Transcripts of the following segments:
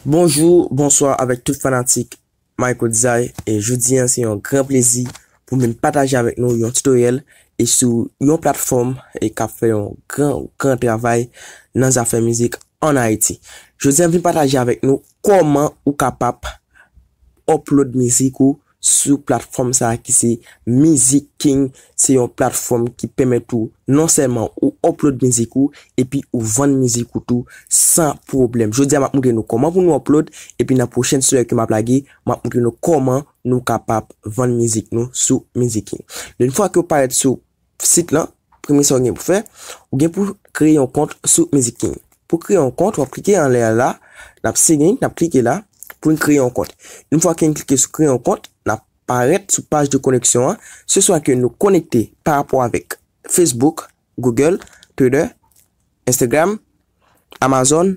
Bonjour, bonsoir avèk tout fanatik My Kotzay, jodi an se yon gran plezi pou vin pataje avèk nou yon tutoriel e sou yon platfòm e kap fè yon gran gran travay nan zafè mizik an Ayiti. Jodi an vin pataje avèk nou kòman ou kapap upload mizik ou sou platfòm sa ki se Mizik King, se yon platfòm ki pèmèt ou non sèlman ou upload mizik ou epi ou vann mizik ou tou san pwoblèm. Jodi a map moutre nou kòman pou nou upload epi nan pwochen story ke map lage map moutre nou kòman nou kapab vann mizik nou sou Mizik King. Une fwa ke ou parèt sou sit lan, premye sa ou gen pou fè, ou gen pou kreye yon kont sou Music King. Pou kreye yon kont, wap klike anlè a la, nap sign, nap klike la pou n kreye yon kont. Yon fwa ke n klike sou kreye yon kont, nap parèt sou paj de koneksyon an, se swa ke nou konekte pa rapò avèk Facebook, Google, Twitter, Instagram, Amazon,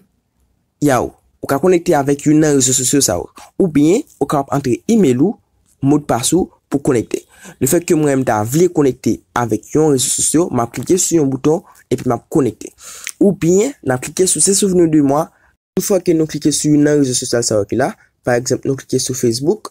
Yow, ou ka konekte avèk youn nan rezo sosyo sa yo. Oubyen, ou kapab antre imel ou, modpas ou pou konekte. Lefètke mwen m ta vle konekte avèk yon rezo sosyo, map klike sou yon bouton epi map konekte. Oubyen, nan klike sou Se Souvenir de moi, Tout fwa ke nou klike sou youn nan rezo sosyal sa yo ki la, pa egzanp nou klike sou Facebook,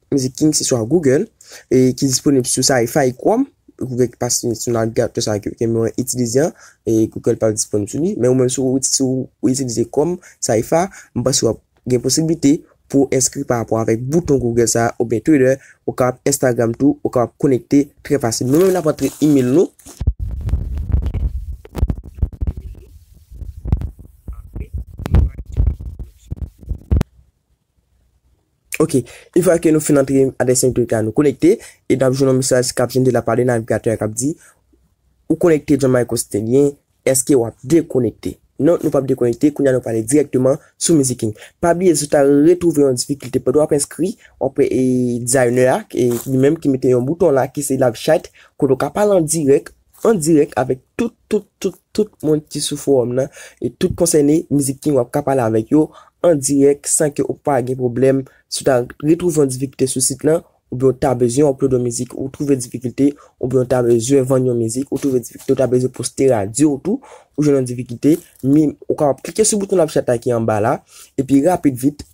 Mizik King se swa Google e ki disponib sou Safari, Chrome, Google ki pa sou sou navigatè sa ke ke mwen itilize an, e Google pa disponib sou li, men ou menm si ou si ou itilize Chrome, Saifa, m panse wap gen posibilite pou w enskri pa rapò avèk bouton Google sa oubyen Twitter, ou kapab Instagram tou, ou kapab konekte trè fasil. Nou menm nap antre email nou. Ok Une fwa ke nou fin antre adrès MQTT a nou konekte e nap jwenn yon mesaj kap jende la pale navigatè a kap di Ou konekte John Michael Stanley eske wap dekonekte? Non nou pap dekonekte kounya nou prale dirèkteman sou MusicKing pa bliye si ou ta retwouve yon difikilte pandan wap enskri wap wè e dizayinè a li menm ki mete yon bouton la ki se live chat kote ou ka pale an dirèk An dirèk avèk tout tout tout tout moun ki sou fowòm nan e tout konsène Mizik King wap ka pale avèk yo an dirèk san ke ou pa gen pwoblèm si w ta retwouve yon difikilte sou sit lan oubyen w ta bezwen upload yon mizik ou twouve difikilte oubyen w ta bezwen vann yon mizik ou twouve difikilte w ta bezwen poste radyo w tou ou jwenn yon difikilte min ou kapab klike sou bouton love chat la ki anba la epi rapid vit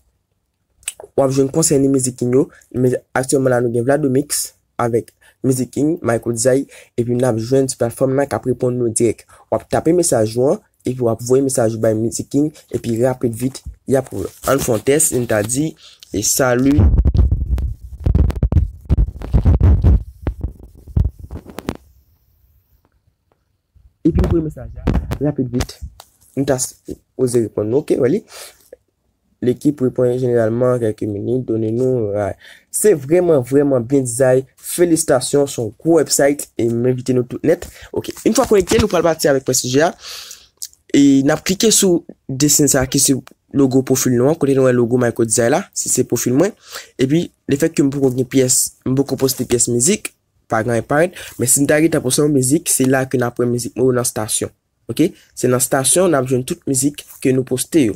Wap jwenn konsèy ni mizik king yo men aktyèlman la nou gen Vladomix avèk mizik king Michael Zay epi nap jwenn sou platfòm la kap reponn nou dirèk. Wap tape mesaj ou an epi wap voye mesaj ou bay mizik king epi rapid vit yap reponn. Ann fon tès n ta di salut. Epi voye mesaj la rapid vit m ta sipoze reponn nou ok wè li. Lekip repon jeneralman an kelke minit, done nou ra. Se vreman vreman byen dizay, felisitasyon, son gwo website e m envite nou tout net. Ok, yn fwa konekte nou pral pati avek pwen sijè a. E nap klike sou desen sa ki sou logo pwofil nou an, kote nou wè logo Mayko Dizay la, si se pwofil mwen. Epi le fèt ke m poko gen pyès, m poko poste pyès mizik, pa gen anyen k parèt, men si m ta gentan poste yon mizik, se la ke nap wè mizik mwen yo nan stasyon. Ok se nan stasyon nap jwenn tout mizik ke nou poste yo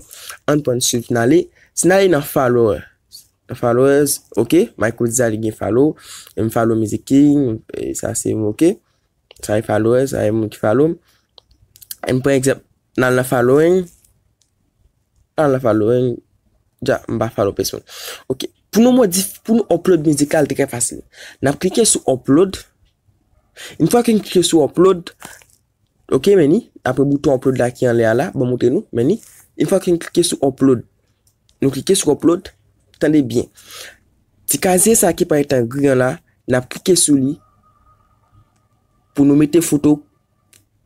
ann prann swiv nale si nale nan followers nan followers ok Mayko di sa li gen follow em follow mizik king sa se m ok sa e followers sa e moun ki follow m em pran egzanp nal nan following nal nan following dja m pa follow pesonn ok pou nou modif pou nou upload mizik la li trè fasil nap klike sou upload yn fwa ke n klike sou upload Ok men ni, apre bouton upload la ki anlè a la, ban montre nou, men ni, yn fwa ke n klike sou upload, nou klike sou upload, tande byen, ti kazye sa ki parèt an gri an la, n ap klike sou li, pou nou mete foto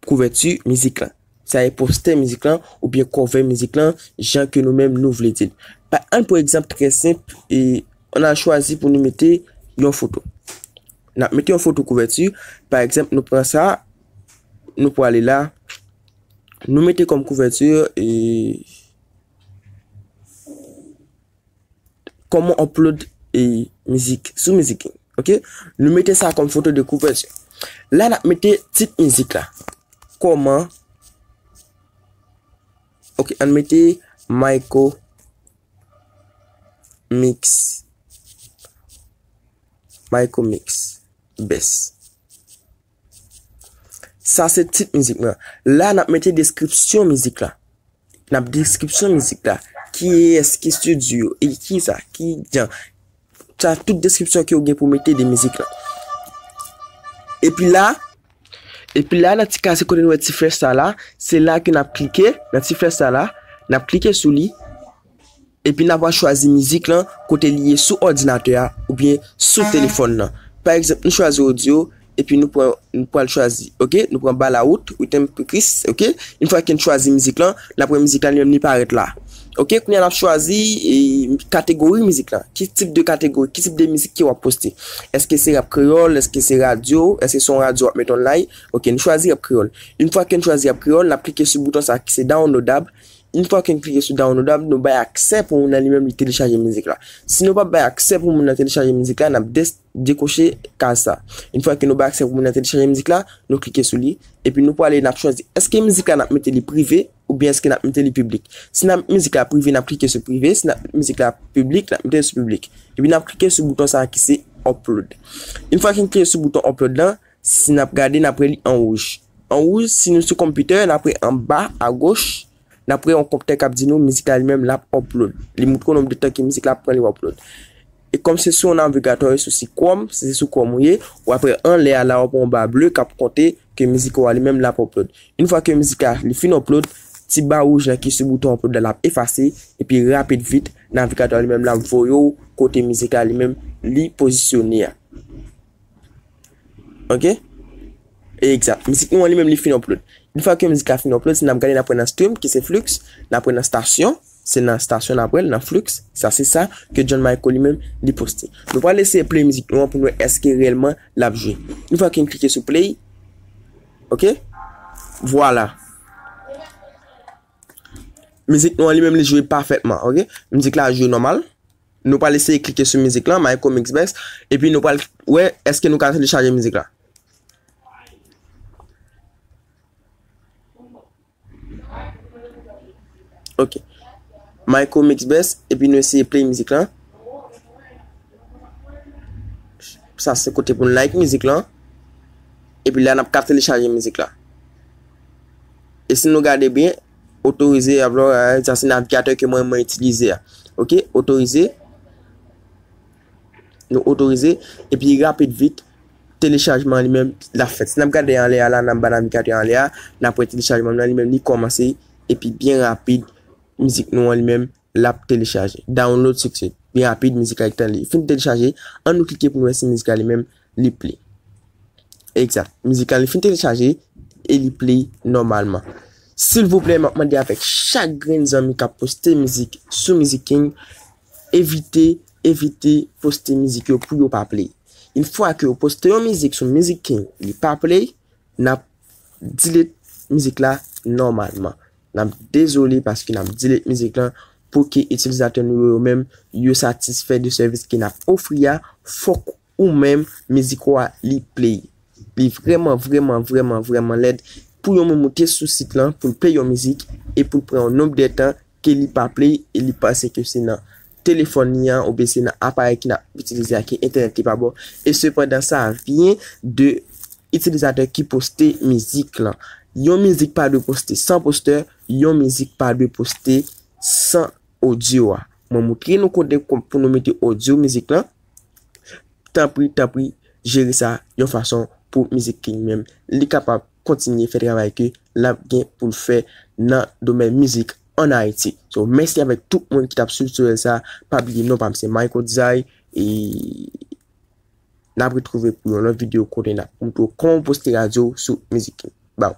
kouvèti mizik lan, sa e postè mizik lan, ou byen kòve mizik lan, jan ke nou menm nou vle di l. Pa ann pou egzanp trè senp, e an al chwazi pou nou mete yon foto. N ap mete yon foto kouvèti. Pa egzanp, nou pran sa, nou pwale la, nou mete kòm kouvèti, Kòman upload mizik sou Mizik. Ok, nou mete sa kòm foto de kouvèti. La n ap mete tit mizik la. Kòman, ok, an n mete Mayco mix. Mayko mix best. Sa se tit mizik mwen. La nap mete deskripsyon mizik la. Nap deskripsyon mizik la. Ki es, ki studio, e ki sa, ki jan. Sa tout deskripsyon ki ou gen pou mete de mizik la. E pi la, e pi la nan ti kase kote nou e ti flèch sa la, se la ke nap klike, nan ti flèch sa la, nap klike sou li. Epi na va chwazi mizik lan kote li ye sou òdinatè a oubyen sou telefòn lan. Pa egzanp nou chwazi audio epi nou pran nou pral chwazi ok nou pran balawout Rhythm pou Kris ok yn fwa ken chwazi mizik lan na pran mizik la li menm li parèt la ok kounya nap chwazi kategori mizik lan ki tip de kategori ki tip de mizik ke wap poste eske se rap kreyòl eske se radyo eske son radyo wap met online ok nou chwazi rap kreyòl yn fwa ken chwazi rap kreyòl nap klike sou bouton sa ki se downloadable Une fwa ke n klike sou download la, nou bay aksè pou moun nan li menm li telechaje mizik la. Si nou pa bay aksè pou moun nan telechaje mizik la, n ap dekoche kaz sa. Une fwa ke nou bay aksè pou moun nan telechaje mizik la, nou klike sou li, epi nou pwale n ap chwazi eske mizik la n ap mete li prive oubyen eske n ap mete li piblik. Si n ap met mizik la prive, n ap klike sou prive, si n ap met mizik la piblik, n ap mete l sou piblik. Epi n ap klike sou bouton sa ki se upload. Une fwa ke n klike sou bouton upload la, Si n ap gade, n ap wè li an wouj. An wouj, si nou sou konpitè, n ap wè an ba, a goch, n ap wè yon kòmantè k ap di nou mizik la li menm l ap upload. Li montre w nonb de tan ke mizik la pran li upload. E kòm se sou yon navigatò e sou sit Chrome, si se sou Chrome ou ye, w ap wè anlè a la w ap wè yon ba ble k ap konte ke mizik ou a li menm l ap upload. Yon fwa ke mizik la li fin upload, ti ba wouj la ki sou bouton upload la l ap efase epi rapid vit navigatò a li menm l ap voye w kote mizik la li menm li pozisyone a. Ok? Ekzat. Mizik nou an li menm li fin upload. Yon fwa ke mizik la fin upload, se nan ap gade nan pwen nan stream ki se flux, nan pwen nan stasyon, se nan stasyon nan pwen nan flux, sa se sa ke John Michael li menm li poste. Nou pral eseye play mizik nou an pou nou wè eske reyèlman l ap jwe. Yon fwa ke m klike sou play, ok? Vwala. Mizik nou an li menm li jwe pafètman, ok? Mizik la jwe nòmal. Nou pral eseye klike sou mizik lan, Mayko Mixbest, epi nou pral wè èske nou ka telechaje mizik la. Ok. Mayko Mixbest, epi nou eseye play mizik lan. Sa se kote pou nou like mizik lan. Epi la nap ka telechaje mizik la. E si nou gade byen, otorize avlò sa se navigatè ke mwen mwen itilize a. Ok, otorize. Nou otorize. E pi rapid vit, telechajman li men la fèt. Si nan ap gade anlè a la, nan ba navigatè anlè a, nan ap wè telechajman nan li men li komanse. E pi byen rapid, mizik nou an li men lap telechaje. Download succeed. Li rapid mizik la gentan li fin telechaje an nou klike pou nou wè si mizik la li menm li play. Exact. Mizik la li fin telechaje e li play nòmalman. Silvouplè map mande avèk chak grenn zanmi kap poste mizik sou Mizik King evite evite poste mizik yo pou yo pa play. Une fwa ke ou poste yon mizik sou Mizik King li pa play nap delete mizik la nòmalman. Nap dezole paske nap delete mizik lan pou ke itilizatè nou yo yo menm yo satisfè de sèvis ke nap ofri a, fòk ou menm mizik ou a li play. Li vrèman vrèman vrèman vrèman lèd pou yon moun moute sou sit lan poul play yon mizik e poul pran yon nonb de tan ke li pa play e li panse ke se nan telefòn li an oubyen se nan aparèy ki nap itilize a ki entènèt li pa bon e sepandan sa vyen de itilizatè ki poste mizik lan. Yon mizik pa dwe poste san postè, yon mizik pa dwe poste san odyo a. Mwen moutre nou kote pou nou mete odyo mizik lan, tanpri tanpri jere sa yon fason pou mizik li menm li kapab kontinye fè travay ke lap gen poul fè nan domèn mizik an Ayiti. So mèsi avèk tout moun ki tap swiv tutoriel sa, pa bliye non pam se Micodizay e nap retrouve pou yon lòt video kote nap moutrew kòman poste radyo sou mizik yo. Baww.